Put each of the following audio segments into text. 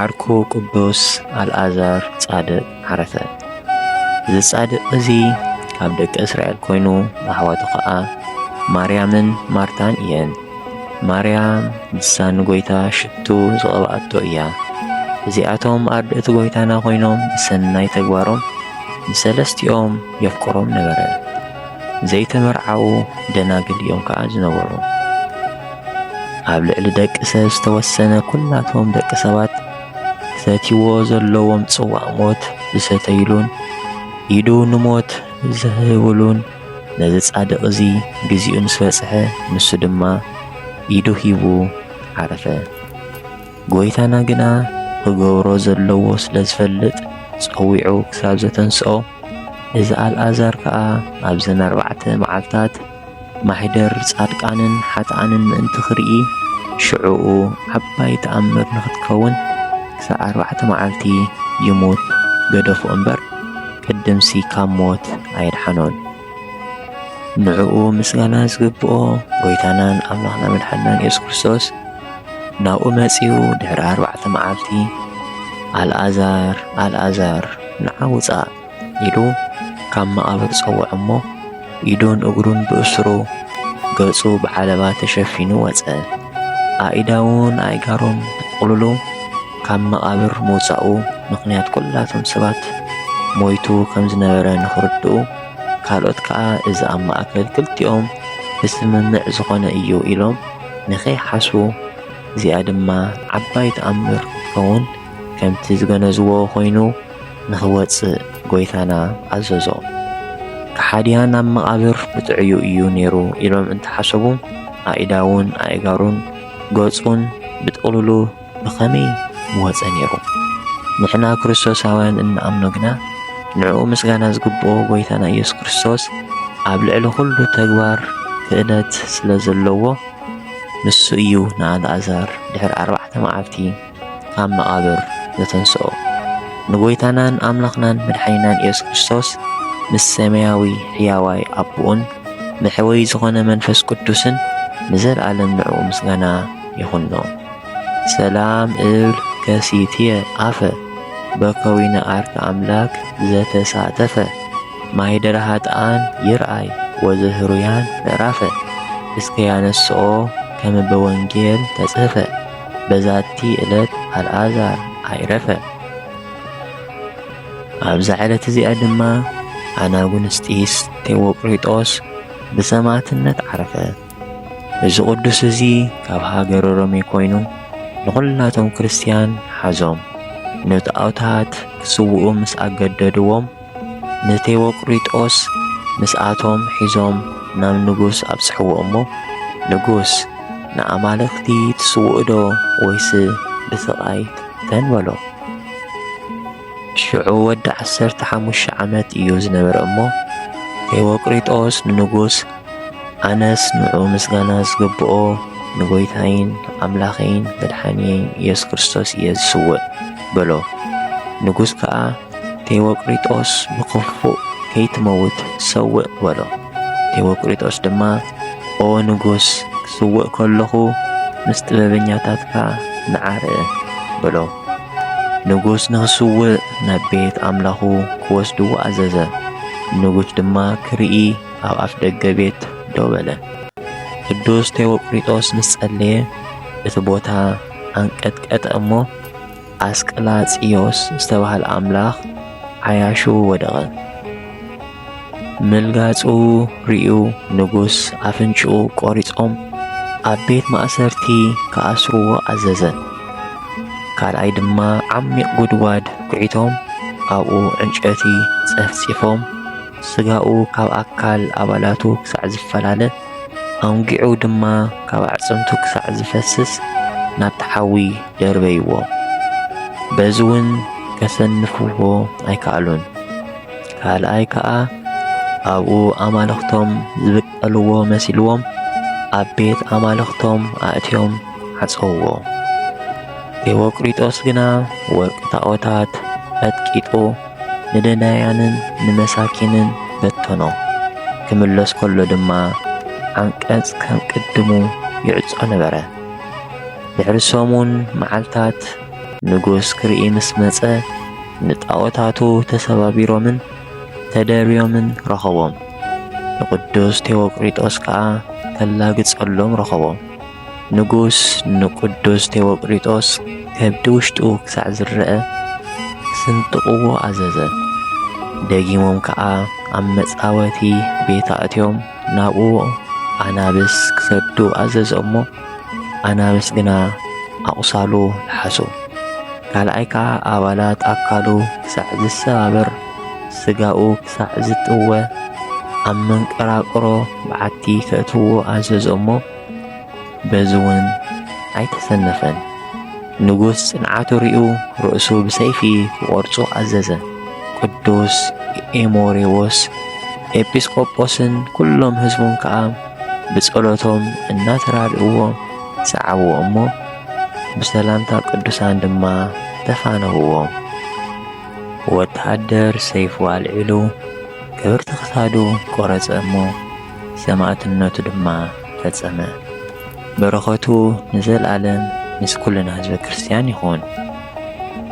ዓርኩ ቅዱስ ኣልኣዛር ጻድቕ ዓረፈ። እዚ ጻድቕ እዚ ካብ ደቂ እስራኤል ኮይኑ ኣሕዋቱ ኸኣ ማርያምን ማርታን እየን። ማርያም ንሳ ንጎይታ ሽቱ ዝቐብኣቶ እያ። እዚኣቶም ኣርድእቲ ጎይታና ኮይኖም ብሰናይ ተግባሮም ንሰለስቲኦም የፍቅሮም ነበረ። ዘይተመርዓዉ ደናግል እዮም ከኣ ዝነበሩ። ኣብ ልዕሊ ደቂ ሰብ ዝተወሰነ ኩላቶም ደቂ ሰባት ክሰትይዎ ዘለዎም ጽዋእ ሞት ዝሰተይሉን ኢዱ ንሞት ዝህብሉን ነዚ ጻድቕ እዚ ግዚኡ ምስ በጽሐ ንሱ ድማ ኢዱ ሂቡ ዓረፈ። ጐይታና ግና ክገብሮ ዘለዎ ስለ ዝፈልጥ ጸዊዑ ክሳብ ዘተንስኦ እዚ ኣልኣዛር ከኣ ኣብዘን ኣርባዕተ መዓልታት ማኅደር ጻድቃንን ኃጥኣንን ምእንቲ ኺርኢ፣ ሽዑኡ ዓባይ ተኣምር ንኽትከውን ክሳዕ ኣርባዕተ መዓልቲ ይሙት ገደፎ እምበር፣ ቅድምሲ ካብ ሞት ኣየድሓኖን። ንዕኡ ምስጋና ዝግብኦ ጐይታናን ኣምላኽና መድሓኒናን ኢየሱስ ክርስቶስ ናብኡ መጺኡ ድኅሪ ኣርባዕተ መዓልቲ ኣልኣዛር ኣልኣዛር ንዓ ውጻእ ኢሉ ካብ መቓብር ጸውዖ እሞ፣ ኢዱን እግሩን ብእስሩ፣ ገጹ ብዓለባ ተሸፊኑ ወጸ። ኣኢዳዉን ኣኢጋሩን ተጠቕሉሉ ካብ መቓብር ምውጻኡ ምኽንያት ኩላቶም ሰባት ሞይቱ ከም ዝነበረ ንኽርድኡ፣ ካልኦት ከኣ እዚ ኣብ ማእከል ክልቲኦም ብስምምዕ ዝኾነ እዩ ኢሎም ንኸይሓስቡ፣ እዚኣ ድማ ዓባይ ተኣምር ክትከውን ከምቲ ዝገነዝዎ ኮይኑ፣ ንኽወጽእ ጐይታና ኣዘዞ። ከሓድያን ኣብ መቓብር ብጥዕዩ እዩ ነይሩ ኢሎም እንተሓሰቡ ኣኢዳዉን ኣኢጋሩን ገጹን ብጥቕሉሉ ብኸመይ ምወጸ ነይሩ? ንሕና ክርስቶሳውያን እንኣምኖ ግና ንዕኡ ምስጋና ዝግብኦ ጐይታና ኢየሱስ ክርስቶስ ኣብ ልዕሊ ዅሉ ተግባር ክእለት ስለ ዘለዎ ንሱ እዩ ንኣልኣዛር ድሕሪ ኣርባዕተ መዓልቲ ካብ መቓብር ዘተንስኦ ንጎይታናን ኣምላኽናን መድሓኒናን ኢየሱስ ክርስቶስ ምስ ሰማያዊ ሕያዋይ ኣቦኡን መሕወይ ዝኾነ መንፈስ ቅዱስን ንዘለዓለም ንዕኡ ምስጋና ይኹኖ። ሰላም እብል ከሲትየ ኣፈ በከዊነ ዓርኪ ኣምላክ ዘተሳተፈ ማይደረ ሃጥኣን ይርኣይ ወዘህሩያን ምዕራፈ እስከ ያነስኦ ከመበወንጌል ተጽህፈ በዛቲ እለት ኣልኣዛር ኣይረፈ። ኣብዛ ዕለት እዚኣ ድማ ኣናጉንስጢስ ቴዎጵሪጦስ ብሰማዕትነት ዓረፈ። እዚ ቅዱስ እዚ ካብ ሃገረ ሮሜ ኮይኑ ንዅላቶም ክርስትያን ሓዞም ነቲ ኣውታት ክስውኡ ምስ ኣገደድዎም ንቴዎቅሪጦስ ምስኣቶም ሒዞም ናብ ንጉስ ኣብጽሕዎ እሞ ንጉስ ንኣማልኽቲ ትስውእዶ ወይስ ብስቓይ ትፍተን በሎ። ሽዑ ወዲ ዓሰርተ ሓሙሽተ ዓመት እዩ ዝነበረ እሞ ቴዎቅሪጦስ ንንጉስ ኣነስ ንዑ ምስጋና ዝግብኦ ንጎይታይን ኣምላኸይን መድሓንየይን ኢየሱስ ክርስቶስ እየ ዝስውእ በሎ። ንጉስ ከዓ ቴዎቅሪጦስ ብኽፉእ ከይትመውት ሰውእ በሎ። ቴዎቅሪጦስ ድማ ኦ ንጉስ ክስውእ ከለኹ ምስ ጥበበኛታትካ ንዓረ በሎ። ንጉስ ንኽስውእ ናብ ቤት ኣምላኹ ክወስድዎ ኣዘዘ። ንጉስ ድማ ክርኢ ኣብ ኣፍ ደገ ቤት ደው በለ። ቅዱስ ቴዎቅሪጦስ ምስ ጸለየ እቲ ቦታ ኣንቀጥቀጠ እሞ ኣስቀላጽዮስ ዝተባህለ ኣምላኽ ዓያሹ ወደቐ። ምልጋጹ ርእዩ ንጉስ ኣፍንጭኡ ቆሪጾም ኣብ ቤት ማእሰርቲ ክኣስርዎ ኣዘዘ። ካልኣይ ድማ ዓሚቕ ጉድጓድ ኩዒቶም ኣብኡ ዕንጨቲ ጸፍጺፎም ስጋኡ ካብ ኣካል ኣባላቱ ክሳዕ ዝፈላለ ኣውንጊዑ ድማ ካብ ኣዕጽምቱ ክሳዕ ዝፈስስ ናብቲ ሓዊ ደርበይዎ። በዚ እውን ከሰንፍዎ ኣይከኣሉን። ካልኣይ ከኣ ኣብኡ ኣማልኽቶም ዝብቀልዎ መሲልዎም ኣብ ቤት ኣማልኽቶም ኣእትዮም ዓጸውዎ። ቴዎቅሪጦስ ግና ወርቂ ታዖታት ቀጥቂጡ ንደናያንን ንመሳኪንን በተኖ። ክምለስ ከሎ ድማ ዓንቀጽ ከም ቅድሙ ይዕጾ ነበረ። ድሕሪ ሰሙን መዓልታት ንጉስ ክርኢ ምስ መጸ ንጣዖታቱ ተሰባቢሮምን ተደርብዮምን ረኸቦም። ንቅዱስ ቴዎቅሪጦስ ከኣ ከላግጸሎም ረኸቦ። ንጉስ ንቅዱስ ቴዎቅሪጦስ ከብዲ ውሽጡ ክሳዕ ዝረኣ ክስንጥቕዎ ኣዘዘ። ደጊሞም ከኣ ኣብ መጻወቲ ቤት ኣእትዮም ናብኡ ኣናብስ ክሰዱ ኣዘዘ እሞ ኣናብስ ግና ኣቝሳሉ ለሓሱ። ካልኣይ ከኣ ኣባላት ኣካሉ ክሳዕ ዝሰባበር፣ ስጋኡ ክሳዕ ዝጥወ፣ ኣብ መንቀራቅሮ በዓቲ ከእትዎ ኣዘዞ እሞ፣ በዚ እውን ኣይተሰነፈን። ንጉስ ጽንዓቱ ርእዩ ርእሱ ብሰይፊ ክቖርጹ ኣዘዘ። ቅዱስ ኤሞሬዎስ ኤጲስቆጶስን ኵሎም ህዝቡን ከኣ ብጸሎቶም እናተራድእዎ ሰዓብዎ እሞ ብሰላምታ ቅዱሳን ድማ ተፋነውዎ። ወተሃደር ሰይፉ ኣልዒሉ ክብርቲ ክሳዱ ቆረጸ እሞ ሰማእትነቱ ድማ ፈጸመ። በረኸቱ ንዘልኣለም ምስ ኩልና ህዝበ ክርስቲያን ይኹን።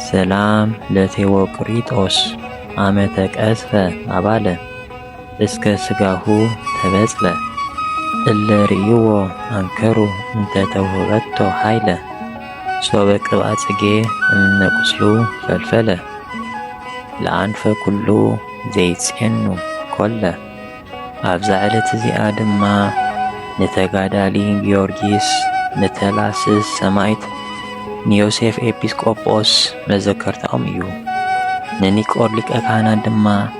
ሰላም ለቴዎቅሪጦስ አመተ ቀዝፈ አባለ እስከ ሥጋሁ ተበጽለ እለ ርእይዎ ኣንከሩ እንተ ተውህበቶ ኃይለ ሶበ ቅብኣ ጽጌ እምነ ቍስሉ ፈልፈለ ለኣንፈ ኵሉ ዘይጼኑ ኰለ ኣብዛ ዕለት እዚኣ ድማ ንተጋዳሊ ጊዮርጊስ ንተላስስ ሰማይት ንዮሴፍ ኤጲስቆጶስ መዘከርታኦም እዩ ንኒቆር ሊቀ ካህናት ድማ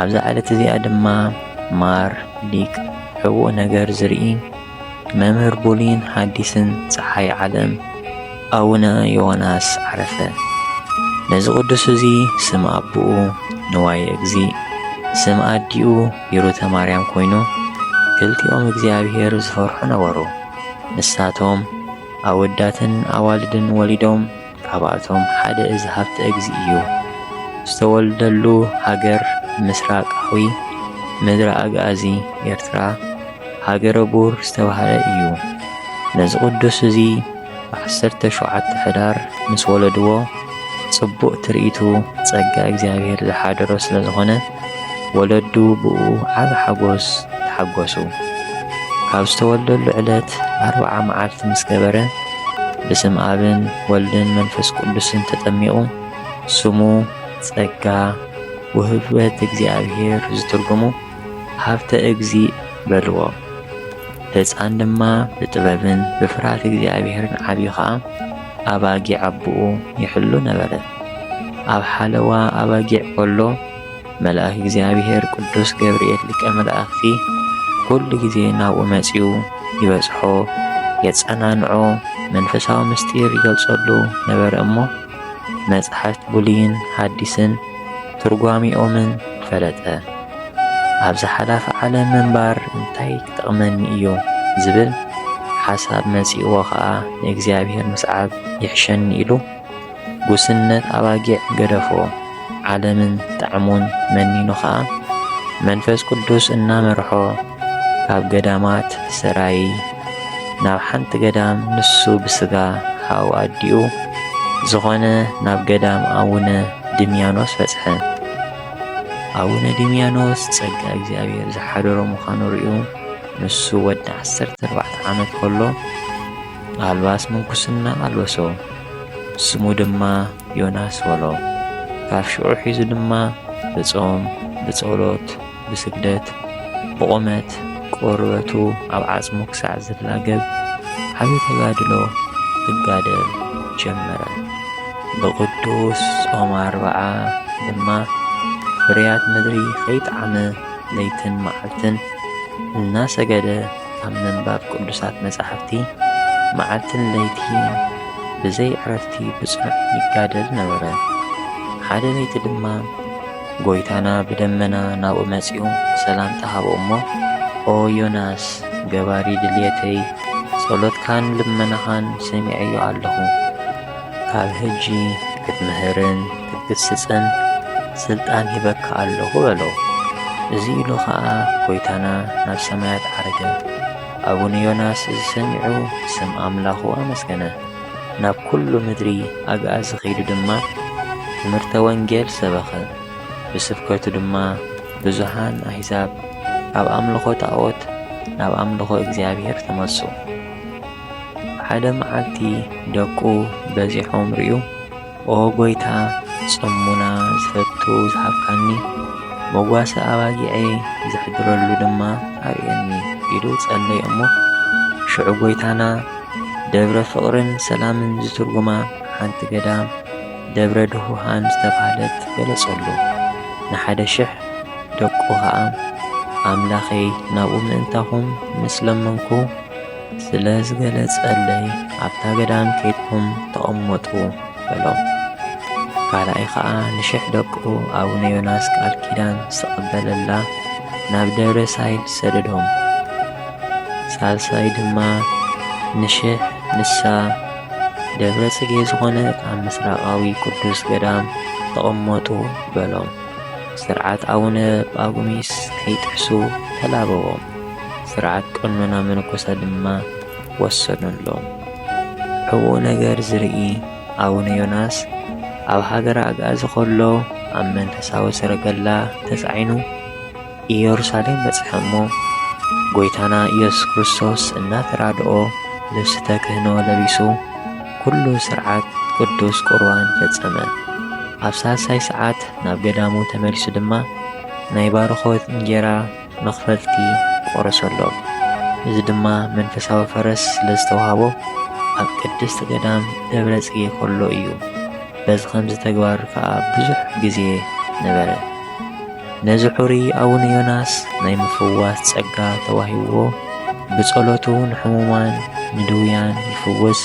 ኣብዛ ዕለት እዚኣ ድማ ማር ሊቅ ሕቡእ ነገር ዝርኢ መምህር ቡሊን ሐዲስን ፀሓይ ዓለም ኣቡነ ዮናስ ዓረፈ። ነዚ ቅዱስ እዚ ስም ኣቦኡ ንዋየ እግዚእ ስም ኣዲኡ ሂሩተ ማርያም ኮይኑ ክልቲኦም እግዚኣብሔር ዝፈርሑ ነበሩ። ንሳቶም ኣወዳትን ኣዋልድን ወሊዶም ካብኣቶም ሓደ እዚ ሃብተ እግዚእ እዩ። ዝተወልደሉ ሃገር ምስራቃዊ ምድረ ኣግኣዚ ኤርትራ ሃገረ ቡር ዝተባህለ እዩ። ነዚ ቅዱስ እዚ ብ ዓሰርተ ሸውዓተ ሕዳር ምስ ወለድዎ ጽቡቅ ትርኢቱ ጸጋ እግዚኣብሔር ዝሓደሮ ስለ ዝኾነ፣ ወለዱ ብእኡ ዓቢ ሓጎስ ተሓጎሱ። ካብ ዝተወልደሉ ዕለት ኣርብዓ መዓልቲ ምስ ገበረ፣ ብስም ኣብን ወልድን መንፈስ ቅዱስን ተጠሚቑ፣ ስሙ ጸጋ ውህበት እግዚኣብሔር ዝትርጉሙ ሃብተ እግዚእ በልዎ። ህፃን ድማ ብጥበብን ብፍርሃት እግዚኣብሔርን ዓብዩ ኸዓ፣ ኣባጊዕ ኣቦኡ ይሕሉ ነበረ። ኣብ ሓለዋ ኣባጊዕ ከሎ መልኣክ እግዚኣብሔር ቅዱስ ገብርኤል ሊቀ መላእክቲ ኩሉ ግዜ ናብኡ መጺኡ ይበጽሖ፣ የጸናንዖ፣ መንፈሳዊ ምስጢር ይገልጸሉ ነበረ እሞ መጽሓፍት ብሉይን ሓዲስን ትርጓሜኦምን ፈለጠ። ኣብዛ ሓላፊ ዓለም ምንባር እንታይ ክጠቕመኒ እዩ ዝብል ሓሳብ መጺእዎ ኸኣ ንእግዚኣብሔር ምስዓብ ይሕሸኒ ኢሉ ጉስነት ኣባጊዕ ገደፎ። ዓለምን ጣዕሙን መኒኑ ኸኣ መንፈስ ቅዱስ እናመርሖ ካብ ገዳማት ሰራይ ናብ ሓንቲ ገዳም ንሱ ብስጋ ሓው ኣዲኡ ዝኾነ ናብ ገዳም ኣቡነ ድምያኖስ በጽሐ። ኣቡነ ድምያኖስ ጸጋ እግዚኣብሔር ዝሓደሮ ምዃኑ ርእዩ ንሱ ወዲ ዓሰርተ ኣርባዕተ ዓመት ከሎ ኣልባስ ምንኩስና ኣልበሶ ስሙ ድማ ዮናስ በሎ። ካብ ሽዑ ሒዙ ድማ ብጾም ብጸሎት ብስደት ብቑመት ቆርበቱ ኣብ ዓጽሙ ክሳዕ ዝላገብ ዓቢ ተጋድሎ ክጋደል ጀመረ። ብቕዱስ ጾም ኣርብዓ ድማ ፍርያት ምድሪ ከይጠዓመ ለይትን መዓልትን እናሰገደ ኣብ ምንባብ ቅዱሳት መጻሕፍቲ መዓልትን ለይቲን ብዘይ ዕረፍቲ ብጽኑዕ ይጋደል ነበረ። ሓደ ለይቲ ድማ ጐይታና ብደመና ናብኡ መጺኡ ሰላምታ ሃቦ እሞ፣ ኦ ዮናስ፣ ገባሪ ድልየተይ፣ ጸሎትካን ልመናኻን ሰሚዐዮ ኣለኹ። ካብ ሕጂ ክትምህርን ክትግስጽን ስልጣን ሂበካ ኣለኹ በሎ። እዚ ኢሉ ኸኣ ጐይታና ናብ ሰማያት ዓረገ። ኣቡነ ዮናስ እዚ ሰሚዑ ስም ኣምላኹ ኣመስገነ። ናብ ኩሉ ምድሪ ኣግኣዚ ኺዱ ድማ ትምህርተ ወንጌል ሰበኸ። ብስብከቱ ድማ ብዙሃን ኣሕዛብ ካብ ኣምልኾ ጣዖት ናብ ኣምልኾ እግዚኣብሔር ተመልሱ። ሓደ መዓልቲ ደቁ በዚሖም ርእዩ። ኦ ጐይታ ጽሙና ዝፈቱ ዝሃብካኒ፣ መጓሰ ኣባጊዐይ ዘሕድረሉ ድማ ኣርእየኒ ኢሉ ጸለየ እሞ፣ ሽዑ ጐይታና ደብረ ፍቕርን ሰላምን ዝትርጉማ ሓንቲ ገዳም ደብረ ድሁሃን ዝተባህለት ገለጸሉ። ንሓደ ሽሕ ደቁ ኸኣ ኣምላኸይ ናብኡ ምእንታኹም ምስ ለመንኩ፣ ስለ ዝገለጸለይ ኣብታ ገዳም ኬድኩም ተቐመጡ በሎም። ካልኣይ ኸኣ ንሽሕ ደቁ ኣቡነ ዮናስ ቃል ኪዳን ዝተቐበለላ ናብ ደብረ ሳይል ሰደዶም። ሳልሳይ ድማ ንሽሕ ንሳ ደብረ ጽጌ ዝኾነት ኣብ ምስራቃዊ ቅዱስ ገዳም ተቐመጡ በሎም። ስርዓት ኣቡነ ጳጉሚስ ከይጥሕሱ ተላበዎም። ስርዓት ቀኖና መነኮሳት ድማ ወሰኑሎም። ሕቡእ ነገር ዝርኢ ኣቡነ ዮናስ ኣብ ሃገረ ኣግኣዚ ከሎ ኣብ መንፈሳዊ ሰረገላ ተጻዒኑ ኢየሩሳሌም በጽሐ እሞ ጐይታና ኢየሱስ ክርስቶስ እናተራድኦ ልብሲ ተክህኖ ለቢሱ ኩሉ ስርዓት ቅዱስ ቁርባን ፈጸመ። ኣብ ሳልሳይ ሰዓት ናብ ገዳሙ ተመሊሱ ድማ ናይ ባርኾት እንጌራ መኽፈልቲ ቆረሰሎም። እዚ ድማ መንፈሳዊ ፈረስ ስለ ዝተዋህቦ ኣብ ቅድስት ገዳም ደብረ ጽጌ ከሎ እዩ። በዚ ኸምዚ ተግባር ከኣ ብዙሕ ግዜ ነበረ። ነዚ ሑሪ ኣቡነ ዮናስ ናይ ምፍዋስ ጸጋ ተዋሂብዎ ብጸሎቱ ንሕሙማን ንድውያን ይፍውስ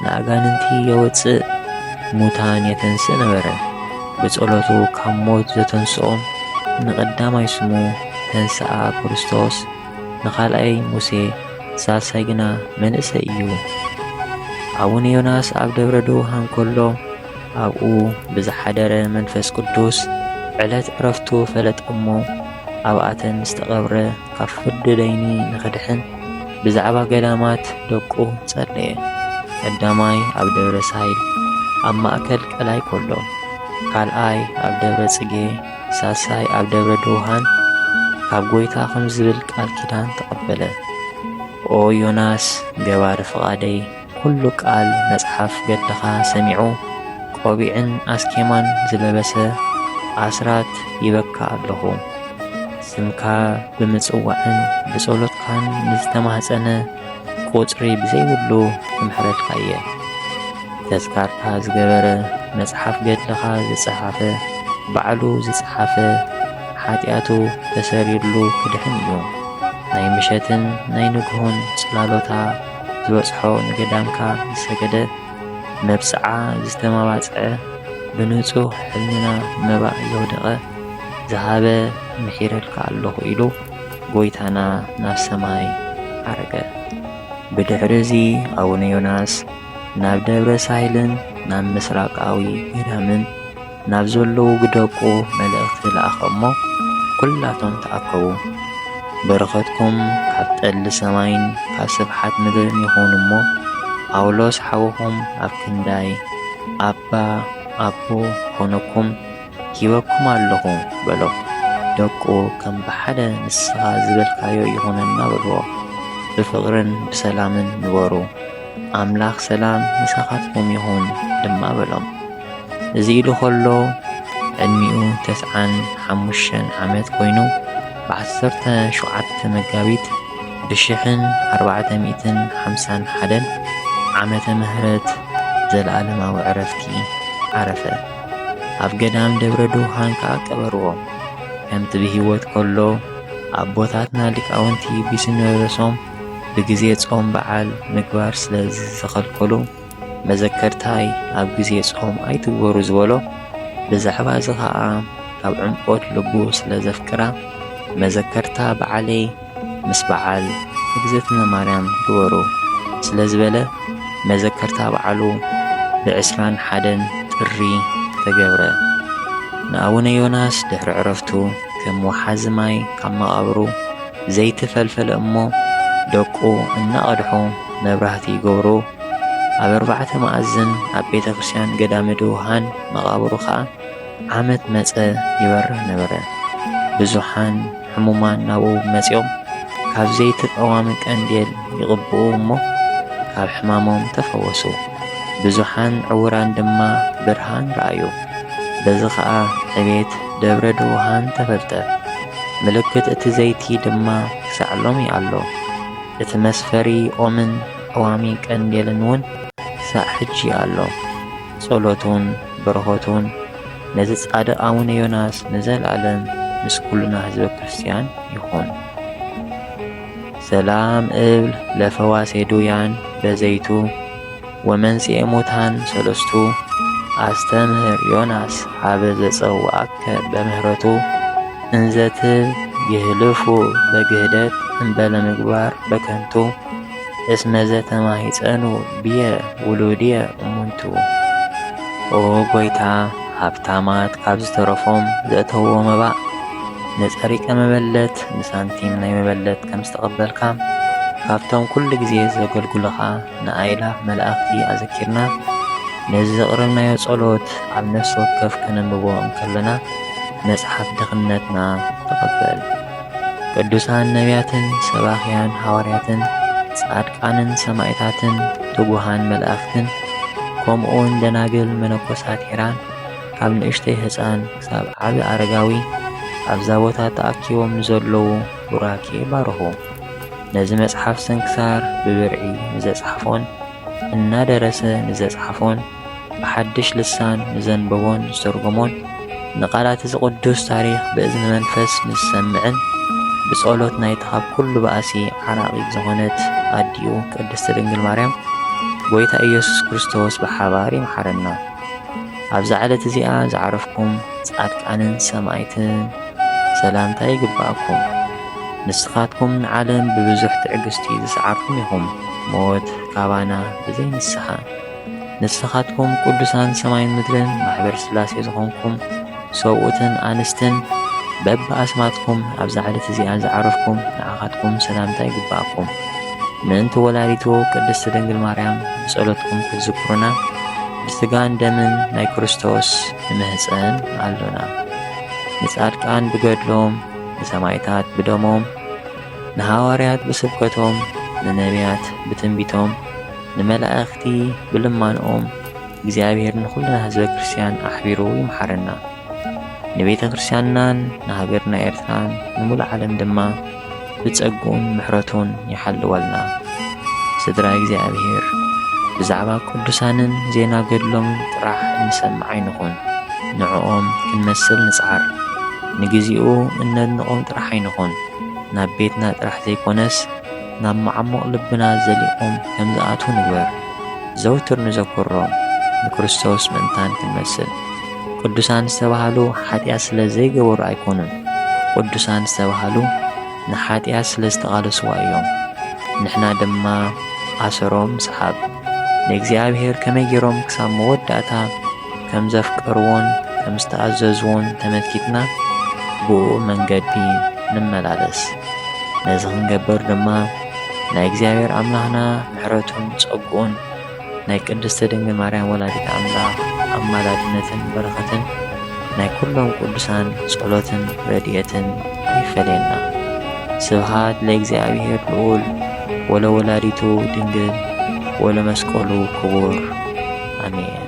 ንኣጋንንቲ የወጽእ ሙታን የተንስእ ነበረ። ብጸሎቱ ካብ ሞት ዘተንስኦም ንቐዳማይ ስሙ ተንስኣ ክርስቶስ፣ ንኻልኣይ ሙሴ፣ ሳልሳይ ግና መንእሰይ እዩ። ኣቡነ ዮናስ ኣብ ደብረ ደውሃን ከሎ ኣብኡ ብዝሓደረ መንፈስ ቅዱስ ዕለት ዕረፍቱ ፈለጠ እሞ ኣብኣተን ዝተቐብረ ካብ ፍርዲ ደይኒ ንኽድሕን ብዛዕባ ገዳማት ደቁ ጸለየ። ቀዳማይ ኣብ ደብረ ሳይል ኣብ ማእከል ቀላይ ኮሎ፣ ካልኣይ ኣብ ደብረ ጽጌ፣ ሳልሳይ ኣብ ደብረ ድውሃን ካብ ጎይታ ኸም ዝብል ቃል ኪዳን ተቐበለ። ኦ ዮናስ ገባሪ ፍቓደይ! ኩሉ ቃል መጽሓፍ ገድልኻ ሰሚዑ ቆቢዕን ኣስኬማን ዝለበሰ ኣስራት ይበካ ኣለኹ ስምካ ብምጽዋዕን ብጸሎትካን ንዝተማህጸነ ቁጽሪ ብዘይብሉ ክምሕረልካ እየ ተዝካርካ ዝገበረ መጽሓፍ ገድልኻ ዝጸሓፈ ባዕሉ ዝጸሓፈ ሓጢኣቱ ተሰሪርሉ ክድሕን እዩ ናይ ምሸትን ናይ ንግሆን ጽላሎታ ዝበጽሖ ንገዳምካ ዝሰገደ መብጽዓ ዝተመባጽዐ ብንጹህ ሕልና መባእ ዘውደቐ ዝሃበ ምሒረልካ ኣለኹ ኢሉ ጎይታና ናብ ሰማይ ዓረገ። ብድሕሪ እዚ ኣቡነ ዮናስ ናብ ደብረ ሳህልን ናብ ምስራቃዊ ገዳምን ናብ ዘለዉ ግደቁ መልእኽቲ ለኣኸ እሞ ኵላቶም ተኣከቡ። በረኸትኩም ካብ ጠሊ ሰማይን ካብ ስብሓት ምድርን ይኹን እሞ ጳውሎስ ሓውኹም ኣብ ክንዳይ ኣባ ኣቦ ክኾነኩም ሂበኩም ኣለኹ በሎ። ደቁ ከም ብሓደ ንስኻ ዝበልካዮ ይኹነና በልዎ። ብፍቕርን ብሰላምን ንበሩ፣ ኣምላኽ ሰላም ምሳኻትኩም ይኹን ድማ በሎም። እዚ ኢሉ ከሎ ዕድሚኡ ተስዓን ሓሙሽተን ዓመት ኮይኑ ብዓሰርተ ሸውዓተ መጋቢት ብሽሕን ኣርባዕተ ሚእትን ሓምሳን ሓደን ዓመተ ምህረት ዘለኣለማዊ ዕረፍቲ ዓረፈ። ኣብ ገዳም ደብረ ድውሃን ከዓ ቀበርዎ። ከምቲ ብህይወት ከሎ ኣቦታትና ሊቃውንቲ ቢስነርሶም ብግዜ ጾም በዓል ምግባር ስለ ዝተኸልከሉ መዘከርታይ ኣብ ግዜ ጾም ኣይትግበሩ ዝበሎ ብዛዕባ እዚ ኸኣ ካብ ዕምቆት ልቡ ስለ ዘፍቅራ መዘከርታ በዓለይ ምስ በዓል እግዝእትነ ማርያም ግበሩ ስለ ዝበለ መዘከርታ በዓሉ ብዕስራን ሓደን ጥሪ ተገብረ። ንኣቡነ ዮናስ ድሕሪ ዕረፍቱ ከም ወሓዚ ማይ ካብ መቓብሩ ዘይቲ ፈልፈለ እሞ ደቁ እናቐድሑ መብራህቲ ይገብሩ። ኣብ ኣርባዕተ መኣዝን ኣብ ቤተ ክርስቲያን ገዳመ ድውሃን መቓብሩ ኸኣ ዓመት መጸ ይበርህ ነበረ። ብዙሓን ሕሙማን ናብኡ መጺኦም ካብ ዘይቲ ቀዋሚ ቀንዴል ይቕብኡ እሞ ካብ ሕማሞም ተፈወሱ። ብዙሓን ዕውራን ድማ ብርሃን ረኣዩ። በዚ ኸኣ ዕቤት ደብረ ድውሃን ተፈልጠ። ምልክት እቲ ዘይቲ ድማ ክሳዕ ሎሚ ኣሎ። እቲ መስፈሪ ኦምን ቀዋሚ ቀንዴልን እውን ክሳዕ ሕጂ ኣሎ። ጸሎቱን በረኸቱን ነዚ ጻድቕ ኣቡነ ዮናስ ንዘልኣለም ምስ ኩልና ህዝበ ክርስትያን ይኹን። ሰላም እብል ለፈዋሴ ዱያን በዘይቱ ወመንጽኤ ሙታን ሰለስቱ ኣስተምህር ዮናስ ሀበ ዘጸውዐከ በምህረቱ እንዘትብ ይህልፉ በግህደት እምበለ ምግባር በከንቱ እስመ ዘተማሂፀኑ ብየ ውሉድየ እሙንቱ። ኦ ጐይታ፣ ሃብታማት ካብ ዝተረፎም ዘእተውዎ መባእ ንፀሪቀ መበለት ንሳንቲም ናይ መበለት ከም ዝተቐበልካ ካብቶም ኩሉ ግዜ ዘገልግሉኻ ንኣእላፍ መላእኽቲ ኣዘኪርና ነዚ ዘቕረብናዮ ጸሎት ኣብ ነፍሲ ወከፍ ከነንብቦ እንከለና መጽሓፍ ድኽነትና ተቐበል። ቅዱሳን ነቢያትን ሰባኽያን ሃዋርያትን ጻድቃንን ሰማዕታትን ትጉሃን መላእኽትን ከምኡውን ደናግል መነኮሳት ሄራን ካብ ንእሽተይ ህፃን ክሳብ ዓቢ ኣረጋዊ ኣብዛ ቦታ ተኣኪቦም ንዘለዉ ቡራኬ ባርኹ። ነዚ መጽሓፍ ስንክሳር ብብርዒ ንዘጽሓፎን እናደረሰ ንዘጽሓፎን ብሓድሽ ልሳን ንዘንበቦን ዝተርጎሞን ንቓላት እዚ ቅዱስ ታሪኽ ብእዝኒ መንፈስ ንዝሰምዕን ብጸሎት ናይቲ ካብ ኩሉ ባእሲ ዓራቒት ዝኾነት ኣዲኡ ቅድስቲ ድንግል ማርያም ጎይታ ኢየሱስ ክርስቶስ ብሓባር ይምሓረና። ኣብዛ ዕለት እዚኣ ዝዓረፍኩም ጻድቃንን ሰማይትን ሰላምታ ይግባኣኩም። ንስኻትኩም ንዓለም ብብዙሕ ትዕግስቲ ዝሰዓርኩም ኢኹም፣ ሞት ካባና ብዘይ ንስሓ ንስኻትኩም ቅዱሳን ሰማይን ምድርን ማሕበር ሥላሴ ዝኾንኩም ሰብኡትን ኣንስትን በብኣስማትኩም ኣብዛ ዕለት እዚኣ ዝዓረፍኩም ንዓኻትኩም ሰላምታ ይግብኣኩም። ምእንቲ ወላዲቱ ቅድስት ድንግል ማርያም ብጸሎትኩም ክትዝክሩና ብሥጋን ደምን ናይ ክርስቶስ ንምህጸን ኣሎና። ንጻድቃን ብገድሎም፣ ንሰማይታት ብደሞም፣ ንሃዋርያት ብስብከቶም፣ ንነቢያት ብትንቢቶም፣ ንመላእኽቲ ብልማንኦም እግዚኣብሔር ንኹልና ህዝበ ክርስቲያን ኣሕቢሩ ይምሓረና። ንቤተ ክርስቲያንናን ንሃገርና ኤርትራን ንሙሉእ ዓለም ድማ ብጸግኡን ምሕረቱን ይሓልወልና። ስድራ እግዚኣብሔር ብዛዕባ ቅዱሳንን ዜና ገድሎምን ጥራሕ እንሰምዕ ኣይንኹን። ንዕኦም ክንመስል ንጽዓር። ንግዚኡ እነድንቖም ጥራሕ ኣይንኹን። ናብ ቤትና ጥራሕ ዘይኮነስ ናብ መዓሙቕ ልብና ዘሊቖም ከም ዝኣትዉ ንግበር። ዘውትር ንዘክሮም፣ ንክርስቶስ ምእንታን ክንመስል። ቅዱሳን ዝተባህሉ ሓጢኣት ስለ ዘይገበሩ ኣይኰኑን። ቅዱሳን ዝተባህሉ ንሓጢኣት ስለ ዝተቓለስዋ እዮም። ንሕና ድማ ኣሰሮም ንስሓብ። ንእግዚኣብሄር ከመይ ገይሮም ክሳብ መወዳእታ። ከም ዘፍቀርዎን ከም ዝተኣዘዝዎን ተመልኪትና ብእኡ መንገዲ ንመላለስ። ነዚ ክንገበር ድማ ናይ እግዚኣብሔር ኣምላኽና ምሕረቱን ጸግኡን ናይ ቅድስቲ ድንግል ማርያም ወላዲት ኣምላኽ ኣማላድነትን በረኸትን ናይ ኩሎም ቅዱሳን ጸሎትን ረድኤትን ይፈለየና። ስብሃት ለእግዚኣብሔር ልዑል ወለወላዲቱ ድንግል ወለመስቀሉ ክቡር ኣሜን።